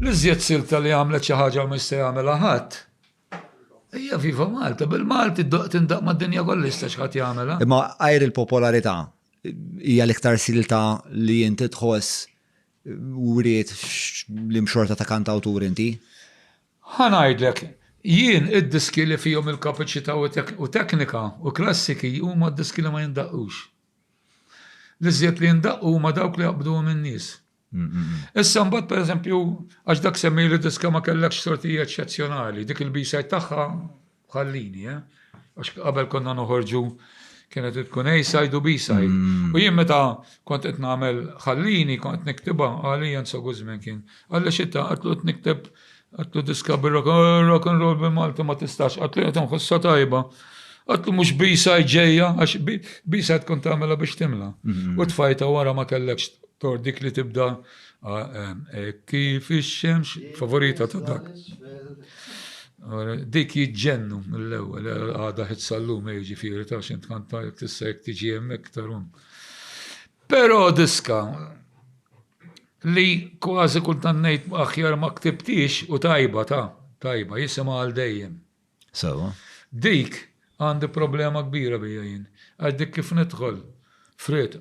L-iżjed silta li għamlet xi ħaġa u mhux se jagħmilha ħadd hija Viva Malta. Bil-Malti tindaq mad-dinja kollha jista' xi ħadd jagħmilha. Imma għajr il-popolarità hija l-iktar silta li inti tħoss wriet l-imxorta ta' kantawtur inti? Ħa ngħidlek, jien id-diski li fihom il-kapaċità u teknika u klassiki huma d-diski li ma jindaqqux. L-iżjed li jindaqqu huma dawk li jaqbduhom in-nies. Issa mbagħad pereżempju għax dak semmi li diska ma kellekx sorti eċċezzjonali, dik il-bisaj tagħha ħallini, eh? Għax qabel konna noħorġu kienet tkun A-side u B-side. Mm. U jien meta kont qed nagħmel ħallini kont niktibha għalija nsogu żmien kien. Għalli xitta għatlu qed nikteb Għatlu diska bi rock and roll bi Malti ma tistax, għatlu jgħat nħossa tajba. Għatlu mux bisa ġeja, għax bisa tkun tamela biex timla. Mhm. U tfajta wara ma kellekx tor dik li tibda e kif ix-xemx favorita ta' dak. Dik jġennu mill-ewwel għada ħit sallum e ġifieri ta' xint kanta jek tista' jek tiġi hemmhekk tarun. Però diska Li kważi kultant ngħid aħjar ma ktibthiex u tajba ta, tajba, jisimha għal dejjem. Sewwa. Dik għandi problema kbira biha jien. Għax dik kif nidħol f'ried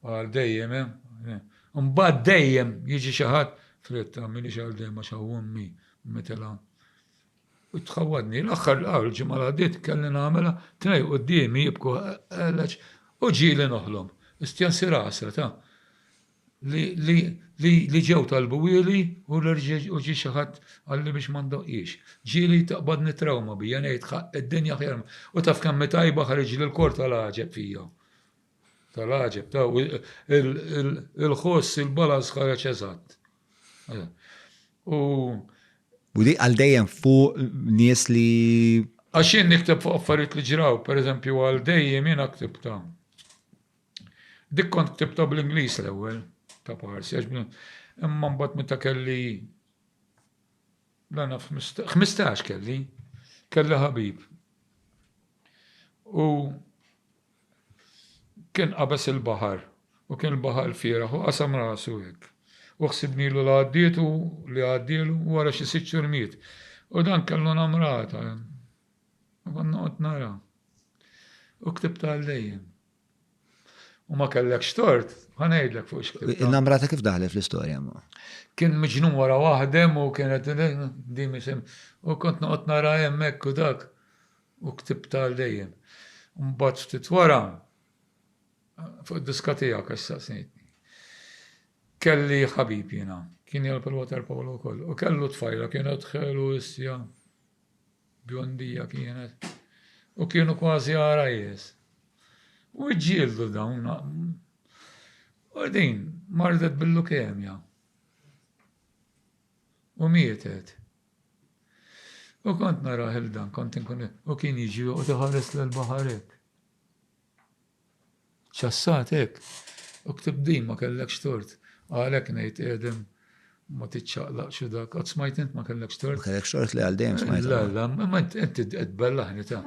għal dejjem eh, eh. Imbagħad dejjem jiġi xi ħadd f'ried ta' m'iniex għal dejjem għax hawn ommi mitilha. U tħawwadni. L-aħħar l ġimgħa li għaddiet kelli nagħmilha tnej quddiemi jibku għalax u ġieli noħlom. Istjan sir għasra ta. li ġew talbuhieli u ġie xi ħadd qalli biex ma ndoqqhiex. Ġieli taqbadni t-trawma bija ngħid, ħaqq id-dinja aħjar ma. U taf kemm hi tajba ħariġli l-kor tal-għaġeb fija. Tal-għaġeb, ta' il-ħoss, il-balaz ħareġ eżatt. U. U di għal dejjem fuq nies li. Għax jien nikteb fuq affarijiet li ġraw, pereżempju għal dejjem jien ktib ta' Dik kont ktibta bl-Ingliż l-ewwel ta' parsi għax imma mbagħad meta kelli dan 15 kelli kelli ħabib. U kien qabes il-baħar u kien il-baħar fieraħ u qasam rasu hekk. U ħsibni l għaddietu li għaddielu wara xi sitt xurmiet. U dan kellu namrata. U għanna għot nara. U ktibta għallejjem. U ma kellekx tort, ma ngħidlek fuq x'ktibt. Il-namrata kif daħlet fl-istorja ma? Kien miġnun wara waħdem u kienet dimi sem. U kont noqgħod nara hemmhekk u dak u ktibta għal dejjem. Mbagħad ftit wara fuq id-diska tiegħek għax saqsejtni. Kelli ħabib jiena, kien jgħal pal-water polo wkoll, u kellu tfajla kienet ħelu issja. Bjondija kienet. U kienu kważi għarajjes. U ġġieldu dawn. U din mardet bil-lukemja. U mietet. U kont naraħ il-dan, kont nkun u kien jiġi u tħares l-baħarek. Ċassat hekk! U ktibt din, ma kellekx tort. Għalhekk ngħid qiegħdem ma tiċċaqlaqx u dak. Qatt smajt int ma kellekx tort? Ma kellekx tort li għal dejjem smajt. La, la, imma int qed tbellaħni ta'.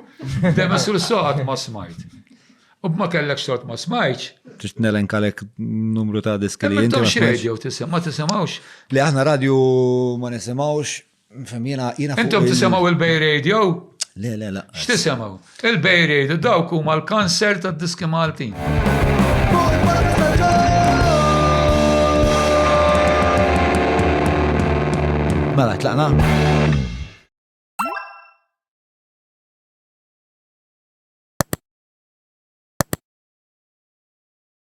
Dejjem issu saqat ma smajt. U b'ma kellekx tort ma smajtx. Trid nelenkalek numru ta' diski li inti. Ma xrejt jew tisem, ma tisimgħux. Li aħna radju ma nisimgħux. Fem, jena, jena. Intom tisemaw il-Bay Radio? Le, le, le. X'tisemaw? Il-Bay Radio dawk huma l-kanser tad-diski Maltin. Mela, tlaqna?